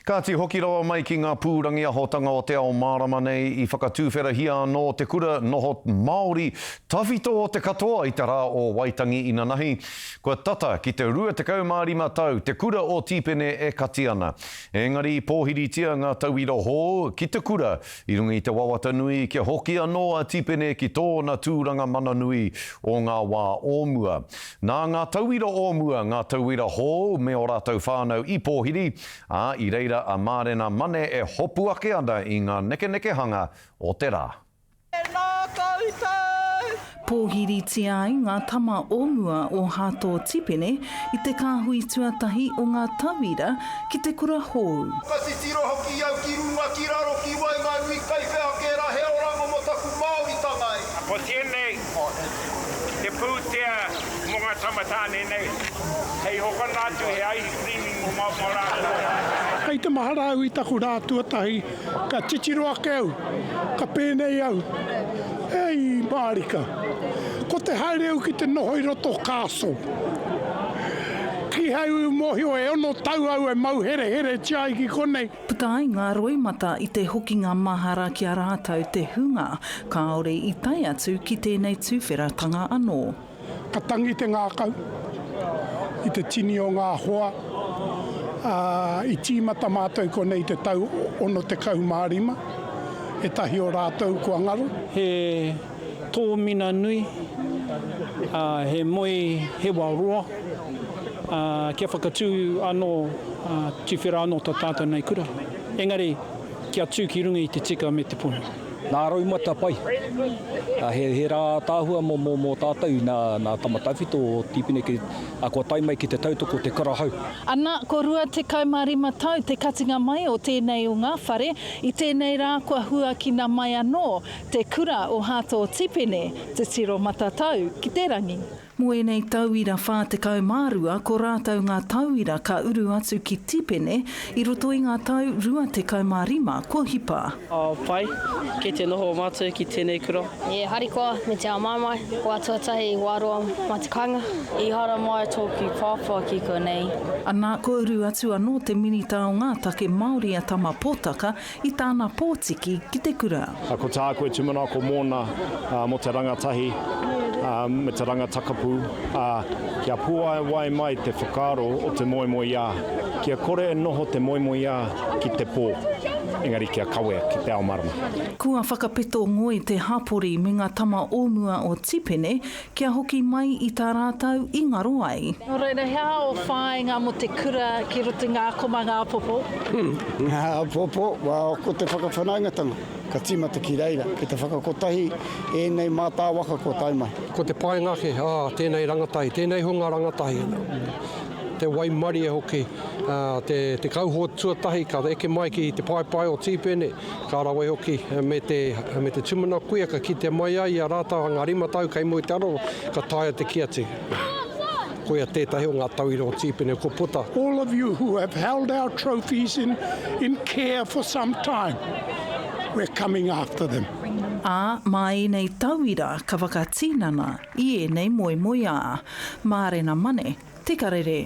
Kāti hoki rawa mai ki ngā pūrangi ahotanga o te ao mārama nei, i whakatūwherahia anō te kura noho Māori tawhito o te katoa i te rā o Waitangi inanahi. Kua tata ki te 25 tau te kura o Tīpene e kati ana. Engari i pōhiritia ngā tauira hou ki te kura i runga i te wawata nui kia hoki anō a Tīpene ki tōna tūranga mana nui o ngā wā o mua. Nā ngā tauira o mua, ngā tauira hou me ō rātou whānau i pōhiri, Ā, i reira a Mārena Mane e hopu ake ana i ngā nekenekehanga o te rā. E nā koutou! Pōhiritia ai ngā tama o mua o Hato Tipene i te kāhui tuatahi o ngā tauira ki te kura hōu. Ka titiro hoki au ki runga, ki raro, ki waenganui, kaiwhea kē rā, he orango mō taku Māoritanga e. Ko tēnei Te pūtea mō ngā tama tāne nei, hei hokona atu he ice cream i momaoma rātou. Kei te mahara au i taku rā tuatahi, ka titiro ake au, ka pēnei au, Hei mārika, ko te haere au ki te noho i roto castle, kīhai ū mōhio e ono tau au e mau hereheretia ai ki konei, Puta ai ngā roimata i te hokinga mahara ki a rātou te hunga kāore i tae atu ki tēnei tuwheratanga anō. Ka tangi te ngākau i te tini o ngā hoa, ā, i tīmata mātou konei i te tau 65, ētahi o rātou kua ngaro. He tōmina nui, ā, he moe hewa roa, ā, kia whakatū anō, ā, tuwhera anō tā tātou nei kura. Engari, kia tū ki runga i te tika me te pono. Nā Roumata pai. Ā, he, he rā ātaahua mō, mō, mō tātou nā, nā Tama Tawhito o Tīpene ki, ā, kua tae mai ki te tautoko o te kura hau. Ana, ko 25 tau te katinga mai o tēnei o ngā whare, i tēnei rā kua huakina mai anō Te Kura o Hato Tipene, Te Tiro Matatau ki te Rangi. Mō ēnei tauira 42 ko rātou ngā tauira ka uru atu ki Tipene i roto i ngā tau rua tekau mā rima kua hipa. Pai, kei te noho mātou ki tēnei kura. E harikoa me te āmaimai, kua tuatahi i wā roa mā te kāinga. I haramai tōku pāpā ki konei. Anā, kua uru atu anō te Minita o ngā Take Māori a Tama Potaka I tāna pōtiki ki te kura. Ko tāku e tūmanako mōna mō te rangatahi me te rangatakapu, ā, kia puāwai mai te whakaaro o te moemoeā, kia kore e noho te moemoeā ki te pō, engari kia kawea ki te ao marama. Kua whakapeto ngoi te hapori me ngā tama o mua o Tipene Kia hoki mai i tā rātou i ngaro ai. Nō reira, he aha ō whāinga mō te kura ki roto i ngā komanga apopo? Ngā apopo, ko te whakawhanaungatanga, ka tīmata ki reira, ki te whakakotahi ēnei mātā waka kua tae mai. Ko te painga ake, tēnei rangatahi, tēnei hunga rangatahi, te waimarie hoki, te kauhoe tuatahi ka eke mai ki te paepae o Tīpene, Ka rawe hoki me te, me te tumana kuia ka kitea mai ai i a rātau anga rima tau kei mua i te aro ka taea te kī atu, koia tētahi o ngā tauira o Tīpene ko Puta. All of you who have held our trophies in, in care for some time, we're coming after them. Ā, mā ēnei tauira ka whakatinana i ēnei moemoeā. Mārena Mane, Te Karere.